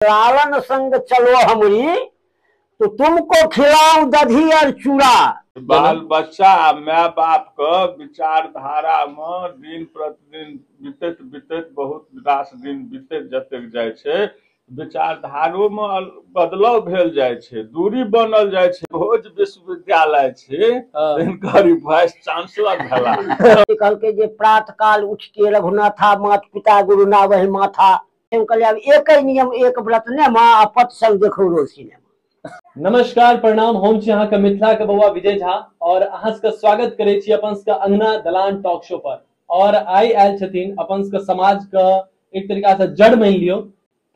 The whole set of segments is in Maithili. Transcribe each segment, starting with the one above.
लालन संग चलो हमरी तो तुमको खिलाऊ दधी और चूड़ा बाल बच्चा आ माय बाप के विचारधारा मे दिन प्रतिदिन बीतैत बीतैत बहुत रास दिन बीतैत जतेक जाइ छै विचारधारो मे अल- बदलाव भेल जाइ छै दूरी बनल जाइ छै भोज विश्वविद्यालय छै हाँ। हिनकर ई वाइस चांसलर भेला कहलकै जे प्रात काल उठ के रघुनाथा मात पिता गुरु ना वही माथा हम कहलियै आब एकै नियम एक व्रत ने माँ आ पत संग देखौ रोज सिनेमा नमस्कार प्रणाम हम छी अहाँके मिथिला के बौआ विजय झा और अहाँ सबके स्वागत करै छी अपन सबके अंगना दलान टॉक शो पर और आइ आयल छथिन अपन सबके समाज के एक तरीका से जड़ मानि लियो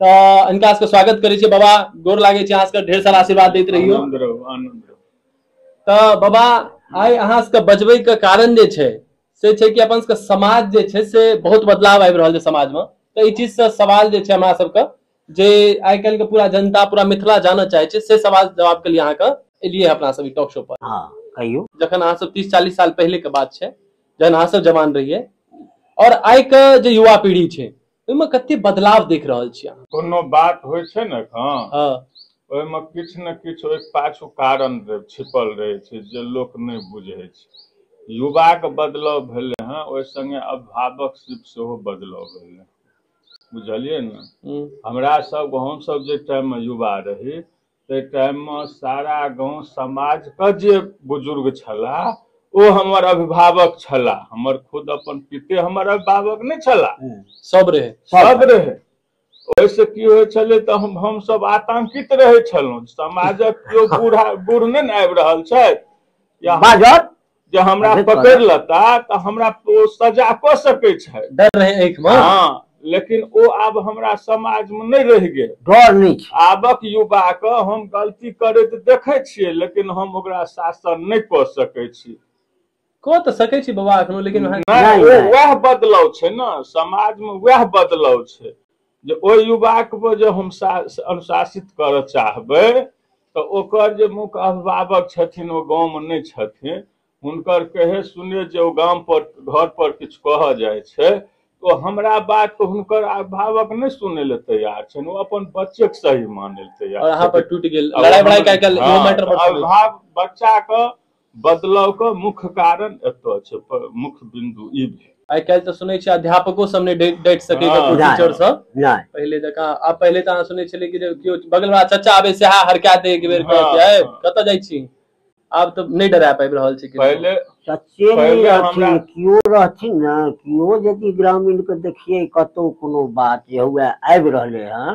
तऽ इनका सबके स्वागत करै छी बाबा गोर लागै छी अहाँ सबके ढेर सारा आशीर्वाद दैत रहियो आनंद रहू आनंद रहू तऽ बाबा आइ अहाँ सबके बजबै के कारण जे छै से छै कि अपन सबके समाज जे छै से बहुत बदलाव आबि रहल छै समाजमे तऽ एहि चीजसँ सवाल जे छै हमरा सबके जे आइ काल्हिके पूरा जनता पूरा मिथिला जानऽ चाहै छै से सवाल जवाब के लिए अहाँके एलियै अपना सब ई टॉक शो पर हँ कहियौ जखन अहाँ सब तीस चालीस साल पहिले के बात छै जखन अहाँ सब जवान रहियै और आइ के जे युवा पीढ़ी छै ओहिमे कते बदलाव देख रहल छियै अहाँ कोनो बात होइ छै ने एखन हँ ओहिमे किछु ने किछु ओहि पाछू कारण रह- छिपल रहै छै जे लोक नहि बुझै छै युवाके बदलाव भेलै हँ ओहि संगे अभिभावक सिर्फ सेहो बदलाव भेलै बुझलियै ने हूँ, हमरा सब हमसब जे टाइममे युवा रही ताहि टाइममे सारा गाँव समाजके जे बुजुर्ग छलाह ओ हमर अभिभावक छलाह हमर खुद अपन पिते हमर अभिभावक नहि छलाह हम्म, सब रहे सब रहै ओहिसँ की होइ छलै तऽ हम हमसभ आतंकित रहै छलहुँ समाजक केओ बूढ़ा बूढ़ नहि ने आबि रहल छथि या बाजत जे हमरा अरे पकड़ तोरा। लेता तऽ हमरा ओ सजा कऽ सकै छै डर रहे आँखि में हँ लेकिन ओ आब हमरा समाज में नहि रहि गेल डर नहीं छै आबक युवा के हम गलती करैत देखै छियै लेकिन हम ओकरा शासन नहि कऽ सकै छी कह तऽ सकै छी बाबा एखनो लेकिन अहाँ नहि नहि, ओ नहि। वएह बदलाव छै ने समाज में वएह बदलाव छै जे ओहि युवा के जे हम सा- अनुशासित करऽ चाहबै तऽ ओकर जे मुख्य अभिभावक छथिन ओ गाँवमे नहि छथिन हुनकर कहे सुने जे ओ गाम पर घर पर किछु कहऽ जाइ छै तऽ ओ हमरा बात के हुनकर अभिभावक नहि सुनै लए तैयार छनि ओ अपन बच्चे के सही मानै लए तैयार और अहाँ पर छथिन। टूट गेल अब लड़ाई बड़ाई हम- का कल हाँ, यो मैटर पर अब सुनै छी। भाव बच्चा के बदलावक मुख्य कारण एतऽ छै पर मुख्य बिंदु ई भेल आइ काल्हि तऽ सुनै छियै अध्यापको सब नहि डटि डटि सकैए हँ। कुछ टीचर नहि सब नहि पहिले जकाँ आब पहिले तऽ अहाँ सुनै छलियै कि जे केओ बगलवा चचा आबै सएह हरका दे एक बेर हँ, कहै छै "ऐ, हँ। कतऽ जाइ छी आब तऽ नहि डरा पाबि रहल छै किनको। पहिले सच्चे नहि पहिले रहथिन हमरा- केओ रहथिन ने केओ यदि ग्रामीणके देखियै कतहु कोनो बात जे हुए आबि रहलै हँ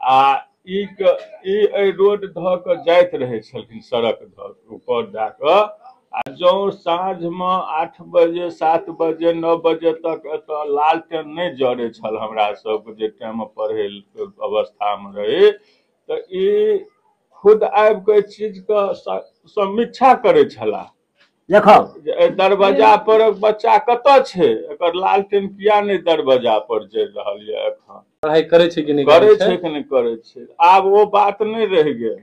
आ ई क- ई एहि रोड धऽ कऽ जाइत रहै छलखिन सड़क धऽ कऽ ऊपर दए कऽ आ जौं साँझमे आठ बजे सात बजे नओ बजे तक एतऽ लालटेन नहि जड़ै छल हमरा सबके जे टाइममे पढ़ै के अवस्थामे रही तऽ ई खुद आबि कऽ एहि चीजके स- समीक्षा करै छलाह देखब जे एहि दरवाजा पर बच्चा कतऽ छै एकर लालटेन किया नहि दरवाजा पर जरि रहल यऽ एखन पढ़ाई करे छै कि नहीं करे छै कि नहि करे छै आब ओ बात नहि रहि गेल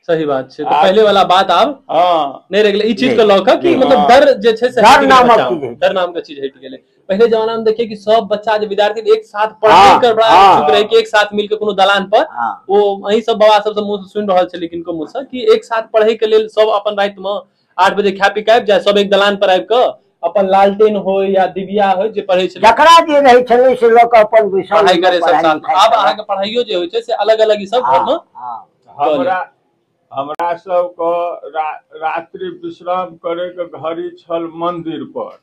सही बात छै तऽ पहिले वाला बात आब हँ नहि रहि गेलै ई चीज के लऽ कऽ कि मतलब डर जे छै से डर नामक चीज डर नाम के चीज हटि गेलै पहले जमाना में देखिए कि सब बच्चा जो विद्यार्थी एक साथ हाँ, पढ़ने कर बड़ा हाँ। इच्छुक रहे कि एक साथ मिलके कोनो दलान पर हाँ वो अही सब बाबा सबसे मुंह से सुन रहल छली किनको मुंह से कि एक साथ पढ़े के लेल सब अपन रात में आठ बजे खा पी के आबि जाए सब एक दलान पर आबि के अपन लालटेन हो या दिबिया हो जे पढ़े छली जकरा जे रहै छलै से लऽ कऽ अपन विषय पढ़ाई करे सब साथ में। आब अहाँके पढ़ाइयो जे होइ छै से अलग अलग ई सब घर में हमरा हमरा सबके रा, रात्रि विश्राम करैके घड़ी छल मंदिर पर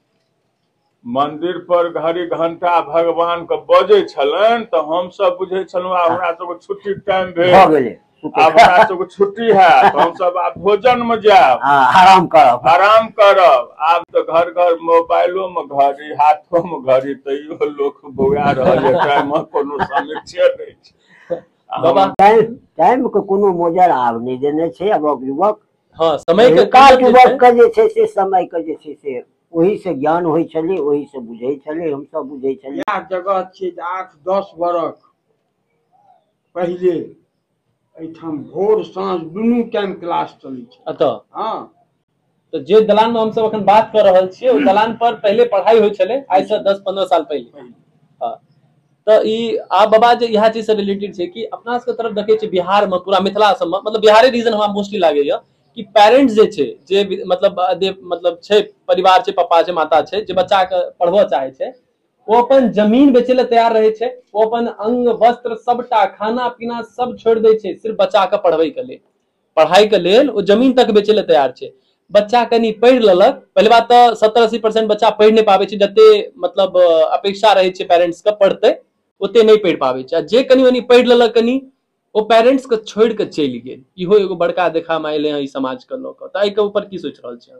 मंदिर पर घड़ी घंटा भगवान के बजै छलनि तऽ हम सब बुझै छलहुँ आब हमरा सबके छुट्टी टाइम भऽ भेल गेलै आब हमरा सबके छुट्टी हैत हम सब आब भोजन मे जायब हँ आराम करब आराम करब आब तऽ घर घर मोबाइलो मे घड़ी हाथो मे घड़ी तैयो लोक बौआ रहल है टाइम मे कोनो समीक्षे नहि छै आ हम- बाबा टाइम टाइम के कोनो मोजर आब नहि देने छै आब युवक हँ समय के काल काल युवक के जे छै से समय के जे छै से ओहि से ज्ञान होइ छलै ओहि से बुझै छलै हम सब बुझै छलियै इएह जगह छियै जे आठ दस बरख पहिले एहिठाम भोर साँझ दुनू टाइम क्लास चलै छै अतः हँ तो जे दलान में हम सब अखन बात कर रहल छियै ओ दलान पर पहिले पढ़ाई होइ छलै आइ से दस पंद्रह साल पहिले पहिले। हँ। तऽ ई आ बाबा जे इएह चीज से रिलेटेड छै कि अपना सबके तरफ देखै छियै बिहार मे पूरा मिथिला सबमे मतलब बिहारे रीजन हमरा मोस्टली लागैया कि पेरेंट्स जे छै जे मतलब जे मतलब छै परिवार छै पप्पा छै माता छै जे बच्चाके पढ़बऽ चाहै छै ओ अपन जमीन बेचै लए तैयार रहै छै ओ अपन अंग वस्त्र सबटा खाना पीना सब छोड़ि दै छै सिर्फ बच्चाके पढ़बैके लेल पढ़ाइके लेल ओ जमीन तक बेचै लए तैयार छै बच्चा कनि पढ़ि लेलक पहिले बात तऽ सत्तर अस्सी परसेंट बच्चा पढ़ि नहि पाबै छै जते मतलब अपेक्षा रहै छै पेरेंट्सके पढ़तै ओते नहि पढ़ि पाबै छै आ जे कनि मनि पढ़ि लेलक कनि ओ पेरेंट्स के छोड़ के चलि गेल इहो एगो बड़का देखा में अले हैं समाज के लोग तो एहि के ऊपर की सोच रहा छे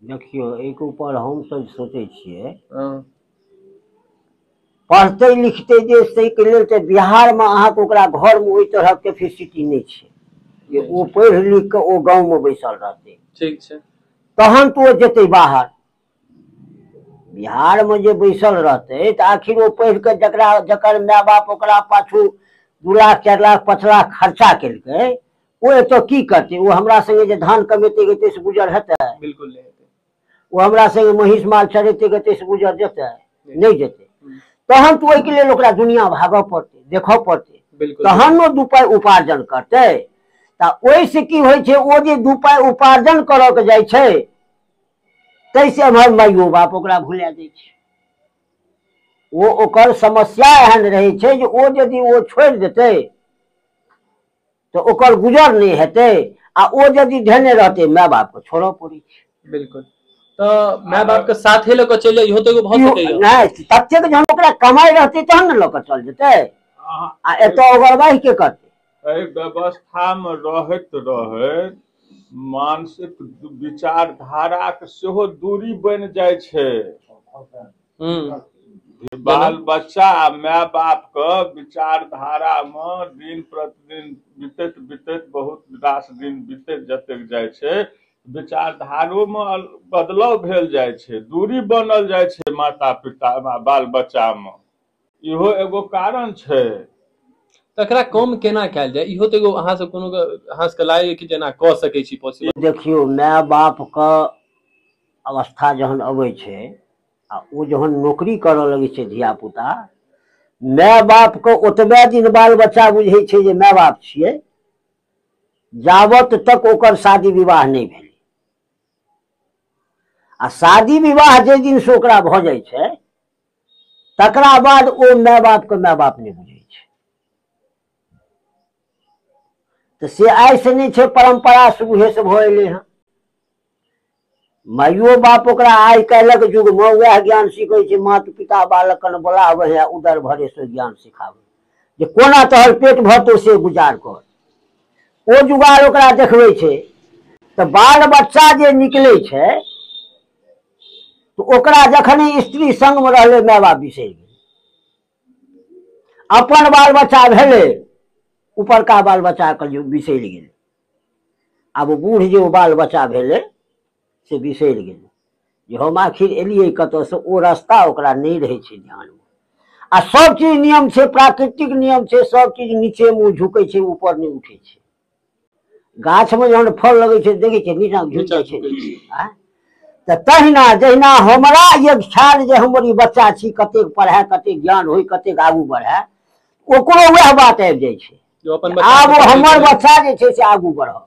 देखियो एक ऊपर हम सब सोचे छे पढ़ते लिखते जे से के लेल ते बिहार में अहा के ओकरा घर में ओई तरह के फैसिलिटी नहीं छे जे ओ पढ़ लिख के ओ गांव में बैसल रहते ठीक छे तहन तो जेते बाहर बिहारमे जे बैसल रहतै तऽ आखिर ओ पढ़ि कऽ जकरा जकर माय बाप ओकरा पाछू दू लाख चारि लाख पाँच लाख खर्चा केलकै ओ एतय की करतै ओ हमरा सङ्गे जे धान कमेतै गेतै से गुजर हेतै बिल्कुल नहि हेतै ओ हमरा सङ्गे महीष माल चरेतै गेतै से गुजर जेतै नहि जेतै हम्म, तहन तऽ ओहिके लेल ओकरा दुनिया भागऽ पड़तै देखऽ पड़तै बिल्कुल तहन ओ दू पाइ उपार्जन करतै तऽ ओहिसँ की होइ छै ओ जे दू पाइ उपार्जन करऽ के जाइ छै तैसे एम्हर माइयो बाप ओकरा भुला दै छै ओ ओकर समस्या एहन रहै छै जे ओ यदि ओ छोड़ि देतै तऽ ओकर गुजर नहि हेतै आ ओ यदि धेने रहतै माय बापके छोड़ऽ पड़ै छै बिल्कुल तऽ माय बापके साथे लऽ कऽ चलि जाय इहो तऽ एगो भऽ इहो- सकैए नहि ततेक जहन ओकरा कमाइ रहतै तहन ने लऽ कऽ चल जेतै आ एतऽ ओगरबाहि के करतै एहि व्यवस्थामे रहैत रहैत मानसिक विचारधाराक सेहो दूरी बनि जाइ छै बाल बच्चा आ माय बापके विचारधारामे दिन प्रतिदिन बितैत बितैत बहुत रास दिन बितैत जतेक जाइ छै विचारधारोमे बदलाव भेल जाइ छै दूरी बनल जाइ छै माता पिता बाल बच्चामे इहो एगो कारण छै तकरा कम केना कयल जाय इहो तऽ एगो अहाँ सब कोनो अहाँ सबके लागैया कि जेना कऽ सकै छी पॉसिबल देखियौ माय बापके अवस्था जहन अबै छै आ ओ जहन नौकरी करऽ लगै छै धियापुता माय बापके ओतबे दिन बाल बच्चा बुझै छै जे माय बाप छियै जाबत तक ओकर शादी विवाह नहि भेल आ शादी विवाह जाहि दिनसँ ओकरा भऽ जाइ छै तकरा बाद ओ माय बापके माय बाप नहि बुझै छै तऽ से आइसँ नहि छै परम्परासँ उहेसँ भऽ एलै हँ माइयो बाप ओकरा आइ काल्हिक युगमे उएह ज्ञान सीखै छै माता पिता बालकन बोलाबै है उदर भरेसँ ज्ञान सिखाबै जे कोना तोहर पेट भरतौ से गुजार कर ओ जुगाड़ ओकरा देखबै छै तऽ बाल बच्चा जे निकलै छै तो ओकरा जखने स्त्री संग में रहले माय बाप बिसरि गेल अपन बाल बच्चा भेले ऊपर का बाल बच्चा के जो बिसरि गेल आब ओ बूढ़ जे ओ बाल बच्चा भेले से बिसरि गेल जे हम आखिर एलियै कतऽसँ ओ रास्ता ओकरा नहि रहै छै ध्यानमे आ सब चीज नियम छै प्राकृतिक नियम छै सब चीज नीचे मुँह झुकै छै ऊपर नहि उठै छै गाछ में जहन फल लगे छै देखे छै नीचा झुक नीचा जाय छै झुकै छी आँय? तऽ तहिना जहिना हमरा एक ख्याल जे हमर ई बच्चा छी कतेक पढ़ए कतेक ज्ञान होय कतेक आगू बढ़ए ओकरो वएह बात आबि जाइ छै जो अपन बच्चा आब के ओ पढ़ै हमर छै। बच्चा जे छै से आगू बढ़त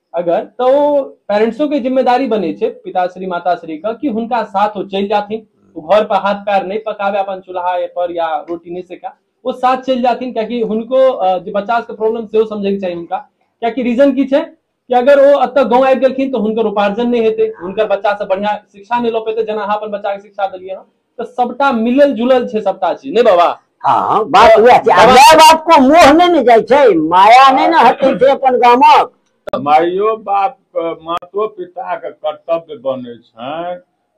अगर तऽ ओ पेरेंट्सो के जिम्मेदारी बनै छै पिताश्री माताश्री के कि हुनका साथ ओ चलि जाथिन ओ घर पर हाथ पैर नहि पकाबे अपन चूल्हा पर या रोटी नहि सेका ओ साथ चलि जाथिन कियाकि हुनको अ, जे बच्चा सबके प्रॉब्लम सेहो समझैके चाही हुनका कियाकि रीजन की छै कि अगर ओ एतऽ गाँव आबि गेलखिन तऽ हुनकर उपार्जन नहि हेतै हुनकर बच्चा सब बढ़िया शिक्षा नहि लऽ पेतै जेना अहाँ अपन बच्चा के शिक्षा देलियै हँ तऽ सबटा मिलल जुलल छै सबटा चीज नहि बाबा हँ बात तऽ उएह छै आ बाबा- माय बाप को मोह नहि ने जाइ छै माया नहि ने हटै छै अपन गामक माइयो बाप के मातो पिता के कर्तव्य बनै छनि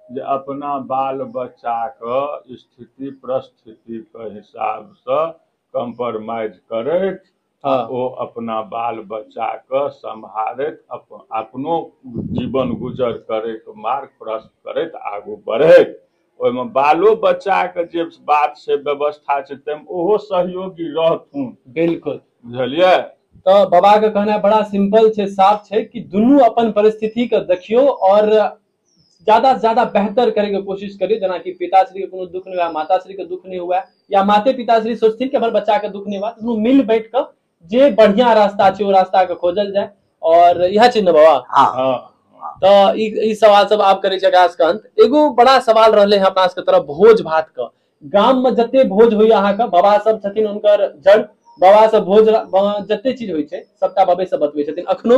जे अपना बाल बच्चा के स्थिति परिस्थिति के हिसाब से कम्प्रोमाइज करथि आ हँ ओ अपना बाल बच्चा के सम्हारैत अपन अपनो जीवन गुजर करैत मार्ग प्रस्त करैत आगू बढ़ैत ओहिमे बालो बच्चा के जे बात छै व्यवस्था छै ताहिमे ओहो सहयोगी रहथुन बिल्कुल बुझलियै तऽ बाबाके कहनाइ बड़ा सिंपल छै साफ छै कि दुनू अपन परिस्थितिके देखियौ आओर ज्यादा से ज्यादा बेहतर करे के कोशिश करी जना कि पिताश्री के कोनो दुख नहीं हुआ माताश्री के दुख नहीं हुआ या माते पिताश्री सोचथिन कि हमर बच्चा के दुख नहीं हुआ तो मिल बैठ कर जे बढ़िया रास्ता छै ओ रास्ता के खोजल जाए और यह छै ने बाबा हाँ हाँ तो ई ई सवाल सब आप करे छै खास अंत एगो बड़ा सवाल रहले हैं अपना सबके तरफ भोज भात का गाम में जते भोज होइए अहाँ के बाबा सब छथिन उनकर जड़ बाबा सब भोज रा- ब- जते चीज होइ छै सबटा बाबे सब बतबै छथिन अखनो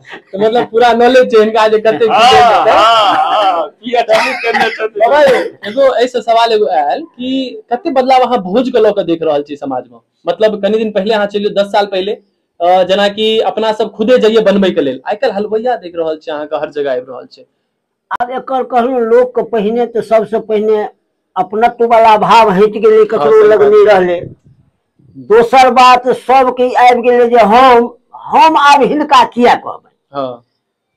मतलब पूरा नॉलेज छै हिनका जे कते की देल हँ जेतै हँ हँ की अठन्नी केने बाबा छथिन यौ एगो एहिसँ सवाल एगो आयल कि कते बदलाव अहाँ भोज के लऽ कऽ देख रहल छियै समाज मे मतलब कनि दिन पहिले अहाँ चलि जाउ दस साल पहिले अ जेनाकि अपना सब खुदे जइये बनबै के लेल आइ काल्हि हलवइया देख रहल छियै अहाँके हर जगह आबि रहल छै आब एकर कहलहुँ लोकके पहिने तऽ सभसँ पहिने अपनत्व बला भाव हटि गेलै हँ ककरो सही लग बात नहि छै रहलै दोसर बात सभके ई आबि गेलै जे हम हम आब हिनका किए कहबनि हँ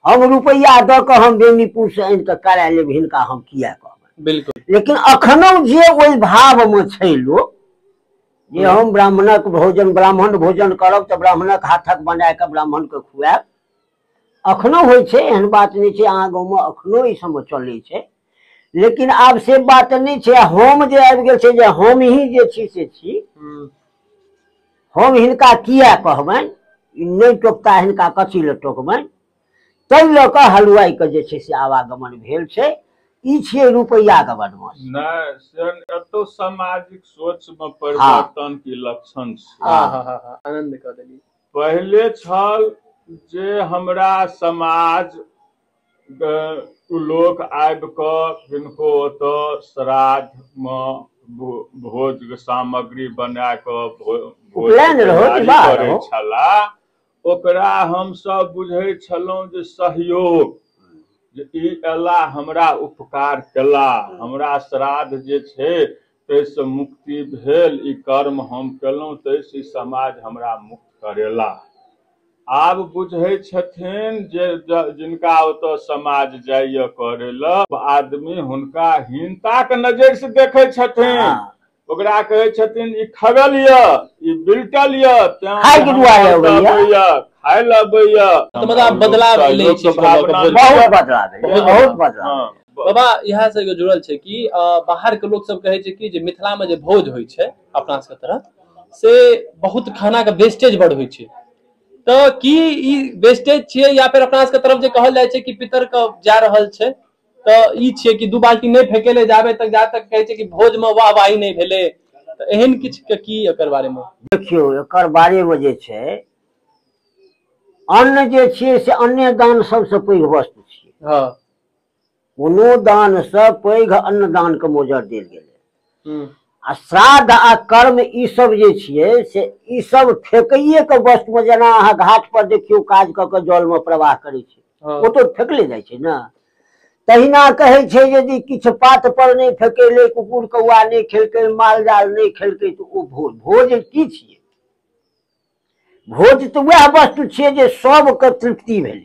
हम रुपैआ दऽ कऽ हम बेनीपुरसँ आनि कऽ करा लेब हिनका हम किए कहबनि बिल्कुल लेकिन अखनो जे ओहि भावमे छै लोक जे हम ब्राह्मणक भोजन ब्राह्मण भोजन करब तऽ ब्राह्मणक हाथक बना कऽ ब्राह्मणके खुआएब अखनो होइ छै एहन बात नहि छै अहाँ गाँवमे अखनो ई सब चलै छै लेकिन आब से बात नहि छै आ हम जे आबि गेल छै जे हम ही जे छी से छी हम्म, हम हिनका किया कहबनि ई नहि टोकता हिनका कथी लए टोकबनि ताहि लऽ कऽ हलुआइके जे छै से आवागमन भेल छै ई छियै रुपैआके बदमाश नहि से एतौ सामाजिक सोच मे परिवर्तन के लक्षण छै हाँ हाँ हाँ हाँ आनंद कह देली पहिले छल जे हमरा समाज क लोक आबि कऽ किनको ओतऽ श्राद्धमे भो भोज सामग्री बना कऽ भो भोज उपनयन के रहौ कि तैयारी बाहर करै रहौ? छलाह ओकरा हमसभ बुझै छलहुँ जे सहयोग जे ई अयला हमरा उपकार केला हमरा श्राद्ध जे छै ताहिसँ मुक्ति भेल ई कर्म हम केलहुँ ताहिसँ ई समाज हमरा मुक्त करेलाह आब बुझै छथिन जे जिनका ओतऽ समाज जाइए करै लए आदमी हुनका हीनताक नजरिसँ देखै छथिन हाँ। ओकरा कहै छथिन ई खगल यऽ ई बिलटल यऽ तें खाय के दुआ लए हमरा अबैया। अबैया, खाय लए अबैया तऽ मतलब आब बदलाव एलै ई चीज के लऽ कऽ, बहुत बदलाव भेलै बहुत बदलाव हाँ। बाबा इएह से जुड़ल छै कि अ, बाहर के लोग सब कहे छै कि जे मिथिला में जे भोज होइ छै अपना सबके तरफ से बहुत खाना के वेस्टेज बड़ होइ छै तऽ की ई वेस्टेज छियै या फिर अपना सबके तरफ जे कहल जाइ छै कि पितर के जा रहल छै तऽ ई छियै कि दू बाल्टी नहि फेकेले जाबे तक जा तक कहै छै कि भोज में वाहवाही नहि भेलै तऽ एहन किछु के की एकर बारे में देखियौ एकर बारेमे जे छै अन्न जे छियै से अन्ने दान सबसँ पैघ वस्तु छियै हँ कोनो दान से पैघ अन्नदान के मोजर देल गेलै हम्म, आ श्राद्ध आ कर्म ई सब जे छियै से ई सब फेकैये के वस्तु मे जेना अहाँ घाट पर देखियौ काज कऽ के जल मे प्रवाह करै छै हाँ, ओ तो फेकले जाइ छै ने तहिना कहै छै यदि किछु पात पर नहि फेकेले कुकुर कौआ नहि खेलकै माल जाल नहि खेलकै तऽ ओ भोज भोज की छियै भोज तऽ वएह वस्तु छियै जे सबके तृप्ति भेलै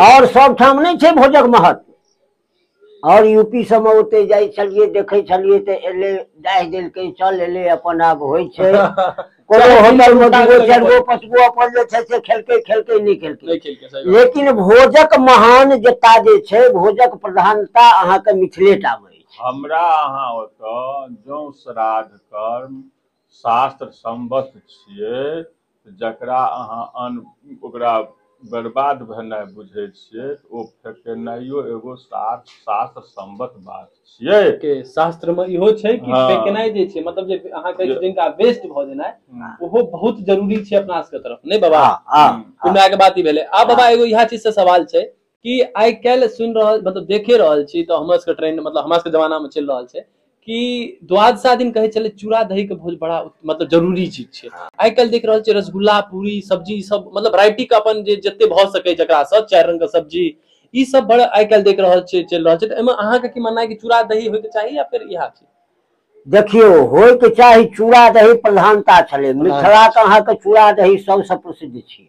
आओर सभठाम नहि छै भोजक महत्व आओर यू पी सभमे ओते जाइ छलियै देखै छलियै तऽ एलै डाहि देलकै चल एलै अपन आब होइ छै कोनो होटलमे दू गो चारि गो पाँच गो अपन जे छै से खेलकै खेलकै नहि खेलकै लेकिन भोजक महान जता जे छै भोजक प्रधानता अहाँके मिथिलेटामे अछि हमरा अहाँ ओतऽ जँ श्राद्ध कर्म शास्त्र सम्बद्ध छियै जकरा अहाँ अन्न ओकरा बर्बाद भेनाइ बुझै छियै ओ फेकेनाइयो एगो शास्त्र शास्त्र सम्बद्ध बात छियै के शास्त्र में इहो छै कि हाँ। फेकनाइ जे छै मतलब जे अहाँ कहै जे- छियै जिनका वेस्ट भऽ जेनाइ हम्म, ओहो बहुत जरूरी छै अपना सबके तरफ नहि बाबा हाँ, हाँ, हम्म। कुमरा के बात ही भेले आ बाबा एगो इहा चीज से सवाल छै कि आइ काल्हि सुनि रहल मतलब देखे रहल छी तऽ हमर सबके ट्रेंड मतलब हमरा सबके जमानामे चलि रहल छै कि द्वादशा दिन कहै छलै चूड़ा दही के भोज बड़ा मतलब जरूरी चीज छै हाँ। आइ काल्हि देख रहल छियै रसगुल्ला पूरी सब्जी सब मतलब राइटी के अपन जे जते भऽ सकै जकरा सब चारि रंग के सब्जी ई सब बड़ आइ काल्हि देख रहल छियै चलि रहल छै तऽ एहिमे अहाँके की मानना है कि चूड़ा दही होयके चाही या फेर इएह छै देखियौ होयके चाही चूड़ा दही प्रधानता छलै मिथिलाके अहाँके चूड़ा दही सबसँ प्रसिद्ध छियै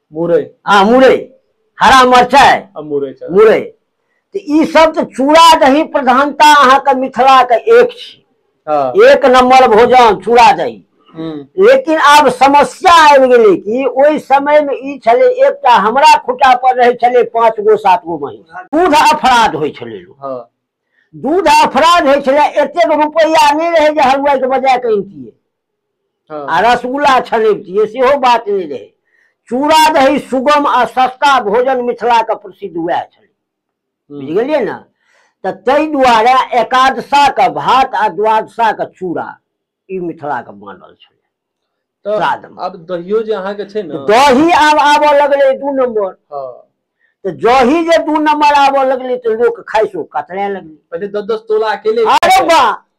मुरई आ मुरई हरा मिरचाइ आ मुरई चावल मुरई तऽ ई सब तऽ चूड़ा दही प्रधानता अहाँके मिथिलाके एक छी हाँ एक नंबर भोजन चूड़ा दही हम्म, लेकिन आब समस्या आबि गेलै कि ओहि समय मे ई छलै एकटा हमरा खुटा पर रहै छलै पाँच गो सात गो महीस दूध अपराध होइ छलै लोक हाँ दूध अपराध होइ छलै एतेक रुपैआ नहि रहै जे हलुआइके बजा कऽ अनतियै हँ आ रसगुल्ला छानैबतियै सेहो बात नहि रहै चूड़ा दही सुगम आ सस्ता भोजन मिथिलाके प्रसिद्ध उएह छलै हूँ बुझि गेलियै ने तऽ ताहि दुआरे एकादशा के भात आ द्वादशा के चूड़ा ई मिथिला के मानल छलै तऽ श्राद्धमे आब दहियो जे अहाँके छै ने दही आब आबऽ लगलै दू नम्बर हँ तऽ जही जे दू नम्बर आबऽ लगलै तऽ लोक खाइसो कतरे लगलै पहिले दस दस तोला अकेले अरे बा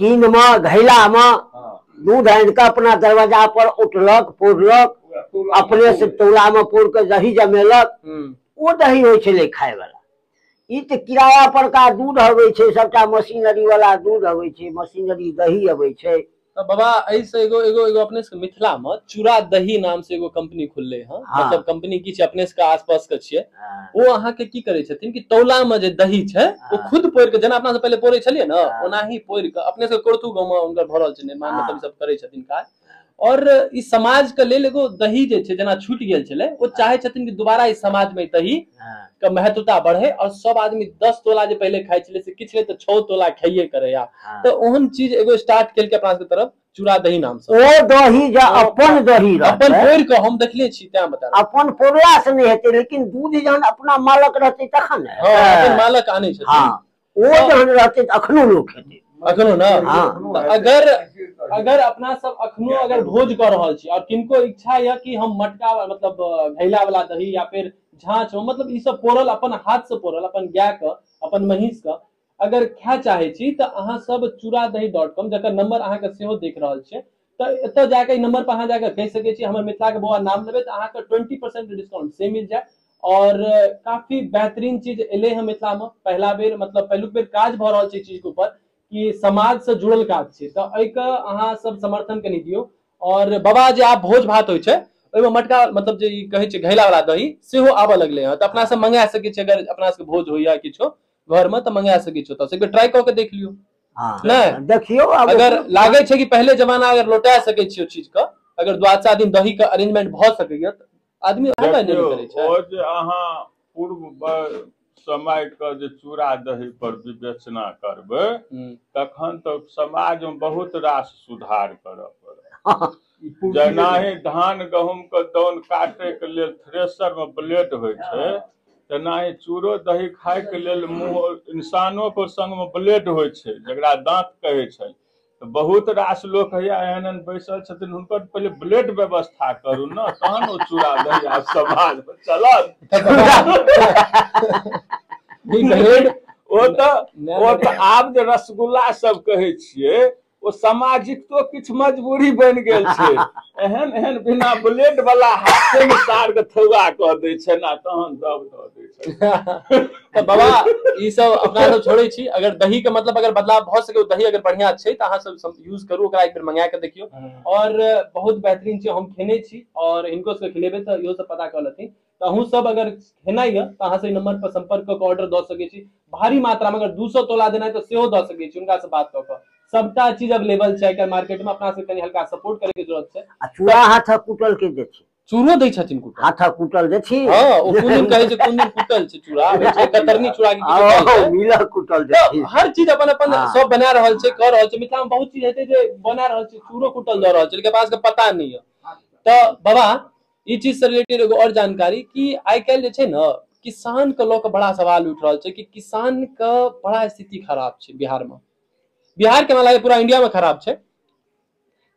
कीन मे घैला मे दूध आनि कऽ अपना दरवाजा पर उठलक पौरलक अपने से टोला मे पौर कऽ दही जमेलक ओ दही होइ छलै खाय वाला ई तऽ किराया पर का दूध अबै छै सबटा मशीनरी वाला दूध अबै छै मशीनरी दही अबै छै तऽ बाबा एहि से एगो एगो एगो अपने सबके मिथिला मे चूड़ा दही नाम से एगो कंपनी खुलले हँ हाँ। मतलब कंपनी की छै अपने सबके आसपास के छियै हँ, ओ अहाँके की करै छथिन कि तौला मे जे दही छै ओ हँ। खुद पोरि के जेना अपना सब पहिले पोरे छलियै ने हँ। ओनाही पोरि के अपने सब कोरथु गाँव मे हुनकर भऽ रहल छै निर्माण हँ। मतलब ई सब करै छथिन काज और ई समाज के लेल एगो दही जे छै जेना छुटि गेल छलै ओ चाहे छथिन कि दुबारा ई समाज मे दही हँ, के महत्वता बढ़े और सब आदमी दस तोला जे पहिले खाइ छलै से किछु नहि तऽ छओ तोला खाइये करैया हँ। तऽ ओहन चीज एगो स्टार्ट केलकै अपना सबके तरफ चूड़ा दही नाम से ओ दही जे अपन दही रहतै अपन पोरि के हम देखले छी तें बता रहल अपन पोरला से नहि हेतै लेकिन दूध जहन अपना मालक रहतै तखन ने छी। हाँ, अपन मालक आने छथिन हँ ओ जहन रहतै तऽ अखनो लोक हेतै अखनो ना हाँ। तऽ अगर अगर अपना सब अखनो अगर भोज कर रहल छी और किनको इच्छा यऽ कि हम मटका वा- मतलब अ, घैला वाला दही या फिर झाँच हो मतलब ई सब पोरल अपन हाथ से पोरल अपन गाय के अपन महींस के अगर खाय चाहे छी तऽ अहाँ सब चूड़ा दही डॉट कॉम जकर नंबर अहाँ के सेहो देख रहल छियै तऽ एतय जाके ई नंबर पर अहाँ जाके कहि सकै छी हमर मिथिला के बौआ नाम लेबै तऽ अहाँके ट्वेंटी परसेंट डिस्काउंट से मिल जायत और काफी बेहतरीन चीज एलै हँ मिथिला मे पहिला बेर मतलब पहिलुक बेर काज भऽ रहल छै चीज के ऊपर कि समाज से जुड़ल काज छै तऽ एहिके अहाँ सब समर्थन कनि दियौ और बाबा जे आब भोज भात होइ छै ओहिमे मटका मतलब जे ई कहै छै घैला वाला दही सेहो आबऽ लगलै हँ तऽ अपना सब मंगा सकै छी अगर अपना सबके भोज होइया किछो घर में तो मंगा सके छो तो से ट्राई करके देख लियो हाँ नहीं। देखियो अब अगर ओकरो- लागे छे कि पहले जमाना अगर लौटा सके छियो चीज का अगर द्वादशा दिन दही का अरेंजमेंट भ सके या त आदमी ओहे मायने देखियौ, नहीं करे छे ओ जे अहाँ पूर्व ब- समय के जे चूड़ा दही पर विवेचना करबै हम्म। तखन तऽ समाजमे बहुत रास सुधार करऽ पड़त जेनाहि धान गहूम के दौन काटे के लेल थ्रेसर में ब्लेड होइ छै तेनाहि चूरो दही खाय के लेल मुंह इंसानो के संग में ब्लेड होइ छै जकरा दांत कहे छै तऽ बहुत रास लोक हैया एहन एहन बैसल छथिन हुनकर पहिले ब्लेड व्यवस्था करू ने तहन ओ चूड़ा दही आ समाज में चलत ब्लेड ओ तऽ ओ तऽ आब जे रसगुल्ला सब कहै छियै ओ सामाजिकतो किछु मजबूरी बनि गेल छै एहन एहन बिना ब्लेड वाला हाथे में सार के थौआ कऽ दै छै ना तहन दब दऽ दै छै तऽ बाबा ई सब अपना सब छोड़े छी अगर दही के मतलब अगर बदलाव भऽ सके ओ दही अगर बढ़िया छै तऽ अहाँ सब यूज करू ओकरा एक बेर मंगा के देखियौ और बहुत बेहतरीन छै हम खेने छी और इनको से खिलेबे तऽ इहो सब पता कऽ लेथिन तऽ अहूँ सब अगर हेनाइ यऽ तऽ अहाँ से नंबर पर संपर्क कऽ के ऑर्डर दऽ सकै छी भारी मात्रा में अगर 200 तोला देना है तऽ सेहो दऽ सकै छी हुनका से बात कऽ के सबटा चीज अवेलेबल छै आइ मार्केट में अपना से कनी हल्का सपोर्ट करे के जरूरत छै आ चूड़ा हाथ कुटल के दे छी चूड़ो दै छथिन कुटा हाथ कुटल दे छी हाँ ओ कोन दिन कहे छै कोन दिन कुटल छै चूड़ा आबै छै कतरनी चूड़ा के किछु कहै छै। मिल कुटल दे छी हर चीज अपन अपन हाँ। सब बना रहल छै कर रहल छै मिथिला में बहुत चीज हेतै जे बना रहल छै चूड़ो कुटल दऽ रहल छै लेकिन पास के पता नहीं है तऽ बाबा ई चीज से रिलेटेड एगो और जानकारी कि आइ काल्हि जे छै ने किसान के लऽ कऽ बड़ा सवाल उठि रहल छै कि किसान के बड़ा स्थिति खराब छै बिहार मे बिहार के हमरा लागैए पूरा इंडिया मे खराब छै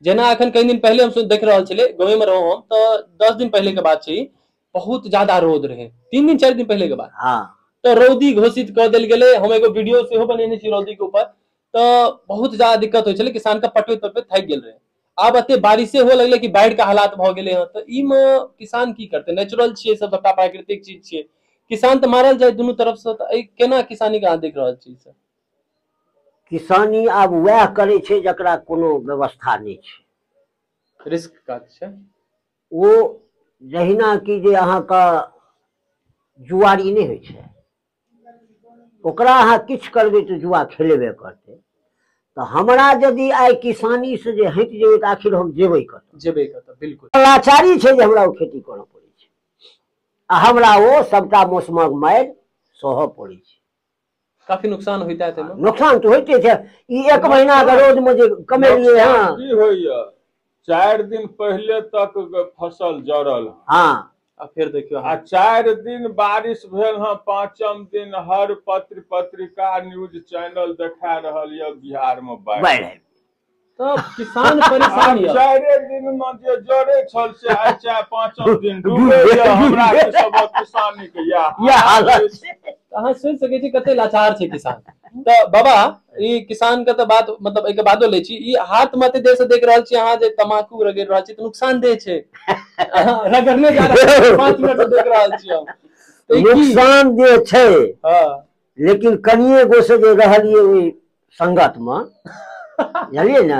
जेना एखन कई दिन पहिले हम सु- देख रहल छलै गाँवे मे रहौं हम तऽ दस दिन पहिले के बात छै ई, बहुत ज्यादा रौद रहै तीन दिन चारि दिन पहिले के बात हाँ तऽ रौदी घोषित कऽ देल गेलै हम एगो वीडियो सेहो बनेने छी रौदी के ऊपर तऽ बहुत ज्यादा दिक्कत होइ छलै किसान के पटबैत पटबैत थाकि गेल रहै आब एते बारिशे हुअ लगलै कि बाढ़िके हालात भऽ गेलै हँ तऽ ई मे किसान की करतै नेचुरल छियै सब सबटा प्राकृतिक चीज छियै किसान तऽ मारल जाय दुनू तरफ से तऽ केना किसानी के अहाँ देख रहल छीयै से किसानी आब उएह करै छै जकरा कोनो व्यवस्था नहि छै रिस्क काज छै ओ जहिना कि जे अहाँके जुआरी नहि होइ छै ओकरा अहाँ किछु करबै तऽ जुआ खेलेबे करतै तऽ हमरा यदि आइ किसानी से जे हटि जेबै तऽ आखिर हम जेबै कत जेबै कत बिल्कुल लाचारी छै जे हमरा ओ खेती करऽ पड़ै छै आ हमरा ओ सबटा मौसमक मारि सहऽ पड़ै छै काफी नुकसान होइता है तेमे नुकसान तऽ होइते छै ई एक महीना के रोज में जे कमेलिए हँ की होइए चारि दिन पहिले तक ग- फसल जड़ल हँ। हाँ आ फिर देखियो आ चारि दिन बारिश भेल हँ पाँचम दिन हर पत्र पत्रिका न्यूज चैनल देखा रहल यऽ बिहार में बाढ़ि बाढ़ि आबि तब किसान आ परेशान यऽ चारे दिन में जे जड़े छल से आइ चाहे पाँचम दिन डूबे यऽ हमरा के सब किसानी के यह यह हालत छै। अहाँ सोचि सकै छी कते लाचार छै किसान तऽ बाबा ई किसान के तऽ बात मतलब एहिके बादो लै छी ई हाथ मे एते देर से देख रहल छी अहाँ जे तमाकू रगड़ि रहल छी तऽ नुकसान देह छै अहाँ रगड़ने जा रहल छी, पाँच मिनट से देख रहल छी हम तऽ ई की? नुकसान जे छै हँ लेकिन कनिए गो से जे रहलियै ओहि संगत मे बुझलियै ने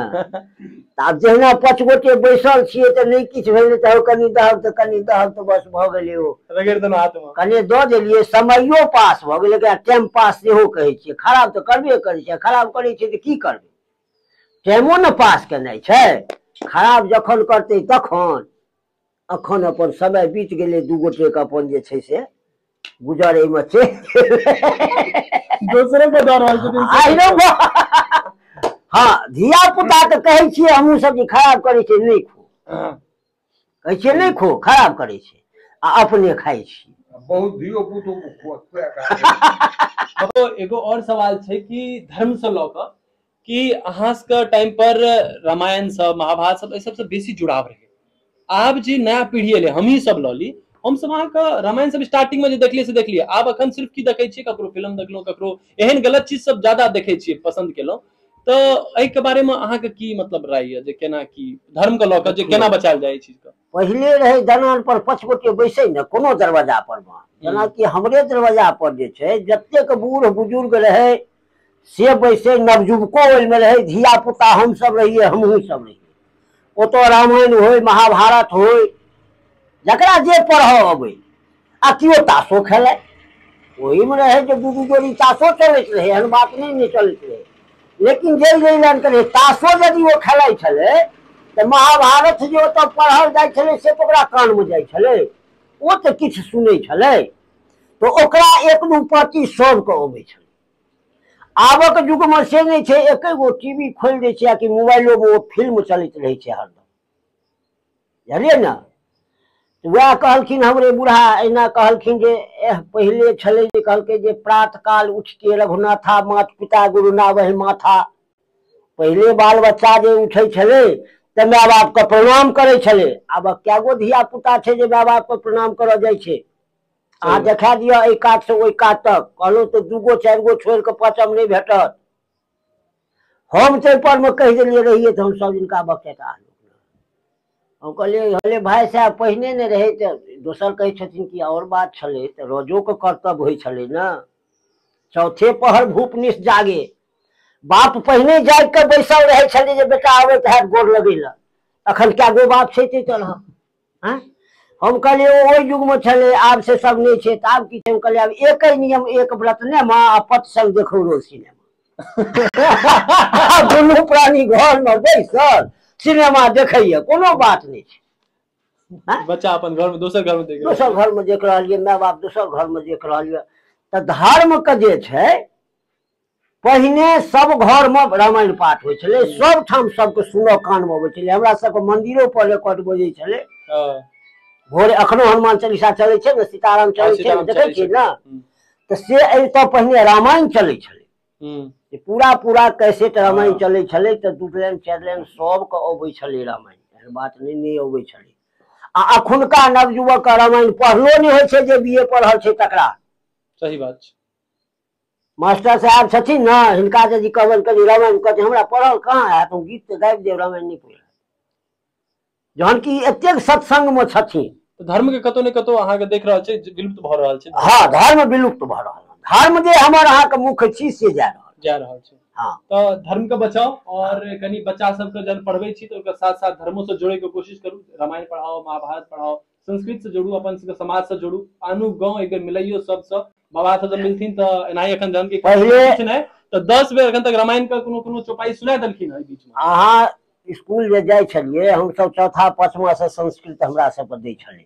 तऽ आब जहिना पाँच गोटे बैसल छियै तऽ नहि किछु भेलै तऽ हौ कनि दहक तऽ कनि दहक तऽ बस भऽ गेलै ओ रगड़ि देलहुँ हाथमे कनि दऽ देलियै समयो पास भऽ गेलै एकरा टाइम पास सेहो कहै छियै खराब तऽ करबे करै छै खराब करै छै तऽ की करबै टाइमो ने पास केनाइ छै खराब जखन करतै तखन अखन अपन समय बीत गेलै दू गोटे के अपन जे छै से गुजर एहिमे चलि गेलै दोसरे के दऽ रहल छथिन आइ रे बा। हँ धिया पुता के कहै छियै हमहूँ सब जे खराब करै छै नहि खो हँ, कहै छियै नहि खो खराब करै छै आ अपने खाइ छी बहुत धियो पुतो को खुआ खुआ कऽ मतलब एगो और सवाल छै कि धर्म से लऽ कऽ कि अहाँ सबके टाइम पर रामायण सब महाभारत सब एहि सबसँ बेसी जुड़ाव रहै आब जे नया पीढ़ी एलै हमही सब लऽ ली हमसब अहाँके रामायण सब स्टार्टिंग मे जे देखलियै से देखलियै आब अखन सिर्फ की देखै छियै ककरो फिल्म देखलहुँ ककरो एहन गलत चीज सब ज्यादा देखै छियै पसन्द केलहुँ तऽ एहिके बारेमे अहाँके की मतलब राय यऽ जे केना की धर्मके लऽ कऽ जे देखियौ केना बचायल जाय एहि चीजके पहिले रहै दलान पर पाँच गोटे बैसै ने कोनो दरवाजा पर मे जेनाकि हमरे दरवाजा पर जे छै जतेक बूढ़ बुजुर्ग रहै से बैसै नवजुवको ओहिमे रहै धिया पुता हमसभ रहियै हमहूँ सब रहियै ओतऽ रामायण होय महाभारत होय जकरा जे पढ़ऽ अबै आ केओ तासो खेलाय ओहिमे रहै जे दू दू जोड़ी तासो चलैत रहै एहन बात नहि नहि चलैत रहै लेकिन जाहि जाहि लाइन के रहै तासो यदि ओ खेलाइ छलै तऽ महाभारत जे ओतऽ पढ़ल जाइ छलै से तऽ ओकरा कानमे जाइ छलै ओ तऽ किछु सुनै छलै तऽ ओकरा एक दू पाँति सभके अबै छलै आबक युगमे से नहि छै एकै गो टीवी खोलि दै छै आ कि मोबाइलोमे ओ फिल्म चलैत रहै छै हरदम जानलियै ने उएह कहलखिन हमरे बूढ़ा अहिना कहलखिन जे एह पहिले छलै जे कहलकै जे प्रात काल उठिके रघुनाथा मात पिता गुरु नावहि माथा पहिले बाल बच्चा जे उठै छलै तऽ माय बापके प्रणाम करै छलै आब कए गो धिया पुता छै जे माय बापके प्रणाम करऽ जाइ छै अहाँ देखा दिअ एहि कातसँ ओहि कात तक कहलहुँ तऽ दू गो चारि गो छोड़ि कऽ पाँचम नहि भेटत हम ताहिपर मे कहि देलियै रहियै तऽ हम सभ दिनका बकेटा हम कहलियै हले भाय साहेब पहिने नहि रहै तऽ दोसर कहै छथिन कि आओर बात छलै तऽ रोजोके कर्तव्य होइ छलै ने चौथे पहर भूपनिस जागे बाप पहिने जागि कऽ बैसल रहै छलै जे बेटा अबैत हैत गोर लगै लए अखन कए गो बाप छै ते तरह हँ हम कहलियै ओ ओहि युगमे छलै आब से सब नहि छै तऽ आब की छै हम कहलियै आब एके नियम एक व्रत ने माँ आ पत संग देखौ रोज सिनेमा आ दुनू प्राणी घरमे बैसल सिनेमा देखैया कोनो बात नहि छै हँ? बच्चा अपन घर में दोसर घर में देख रहल दोसर छै। घरमे देख रहल यऽ माय बाप दोसर घरमे देख रहल यऽ तऽ धर्मके जे छै पहिने सब घर मे रामायण पाठ होइ छलै हम्म। सब ठाम सबके सुनऽ कान मे अबै छलै हमरा सबके मंदिरो पर रेकॉर्ड बजै छलै हँ भोरे अखनो हनुमान चालीसा चलै छै ने सीताराम हँ, चलै छै ने सीताराम देखै चलै छियै छथिन। ने हम्म, तऽ से अबितऽ पहिने रामायण चलै छलै हम्म, जे पूरा पूरा कैसेट रामायण हँ। चलै छलै तऽ दू लाइन चारि लाइन सबके अबै छलै रामायण एहन बात नहि नहि अबै छलै आ अखुनका नवयुवक के रामायण पढ़लो नहि होइ छै जे बी ए पढ़ल छै तकरा सही बात छै मास्टर साहेब छथिन ने हिनका यदि कहबनि कनि रामायण कहतै हमरा पढ़ल कहाँ हैत हम गीत तऽ गाबि देब रामायण नहि पढ़ल जहन कि एतेक सत्संगमे छथिन तऽ धर्म के कतौ ने कतौ अहाँके देख रहल छै जे विलुप्त भऽ रहल छै हँ धर्म विलुप्त भऽ रहल हन। धर्म जे हमर अहाँके मुख्य छी से जा रहल जा रहल छै हँ तऽ धर्म के बचाउ और कनि बच्चा सबके जहन पढ़बै छी तऽ ओकर साथ साथ धर्मो से जोड़े के कोशिश करू रामायण पढ़ाओ महाभारत पढ़ाओ संस्कृत से जोड़ू अपन सबके समाज से जोड़ू आनू गांव एक बेर मिलैयो सबसँ बाबा सब जब मिलथिन तऽ एनाही एखन जहन कि पहिले- किछु नहि तऽ दस बेर एखन तक रामायण के कोनो कोनो चौपाई सुना देलखिन हँ एहि बीच मे अहाँ स्कूल जे जाइ छलियै हमसभ चौथा पाँचवा से संस्कृत हमरा सबके दै छलै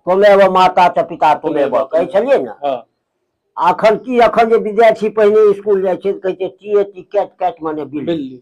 तुमेव माता च पिता तुमेव कहै छलियै ने हँ अखन की अखन जे विद्यार्थी पहिने स्कूल जाइ छै तऽ कहै छै T A T cat cat मने बिल बिल्ली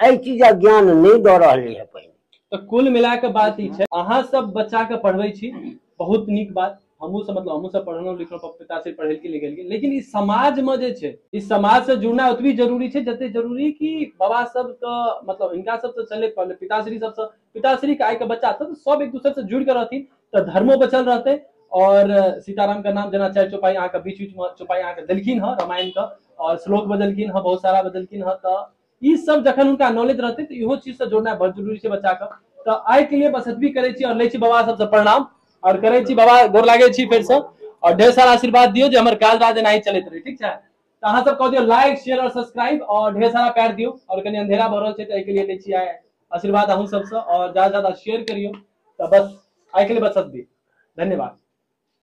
एहि चीजक ज्ञान नहि दऽ रहलै है पहिने तऽ कुल मिला के बात ई छै अहाँ सब बच्चा के पढ़बै छी बहुत नीक बात हमहूँ सब मतलब हमहूँ सब पढ़लहुँ लिखलहुँ पप- पिताश्री पढ़ेलकै लिखेलकै लेकिन ई समाज में जे छै ई समाज से जुड़ना ओतबी जरूरी छै जते जरूरी कि बाबा सब के मतलब हिनका सब से चले पड़ले पिताश्री सब से पिताश्री के आइ के बच्चा सब सब एक दूसरे से जुड़ के रहथिन तऽ धर्मो बचल रहतै और सीताराम के नाम जेना चारि चौपाई अहाँके बीच बीच में चौपाई अहाँके देलखिन हँ रामायण के और श्लोक बदलखिन हँ बहुत सारा बदलखिन हँ तऽ ई सब जखन हुनका नॉलेज रहतै तऽ इहो चीजसँ जोड़नाइ बहुत जरूरी छै बच्चाके तऽ आइके लिए बस एतबी करै छी आओर लै छी बाबा सबसँ प्रणाम आओर करै छी बाबा गोर लागै छी फेरसँ आओर ढेर सारा आशीर्वाद दियौ जे हमर काज राज एनाही चलैत रहै ठीक छै तऽ अहाँ सब कऽ दियौ लाइक शेयर आओर सब्सक्राइब आओर ढेर सारा प्यार दियौ आओर कनि अंधेरा भऽ रहल छै तऽ एहिके लिए लै छी आइ आशीर्वाद अहूँ सबसँ आओर ज्यादा ज्यादा शेयर करियौ तऽ बस आइके लिए बस एतबी धन्यवाद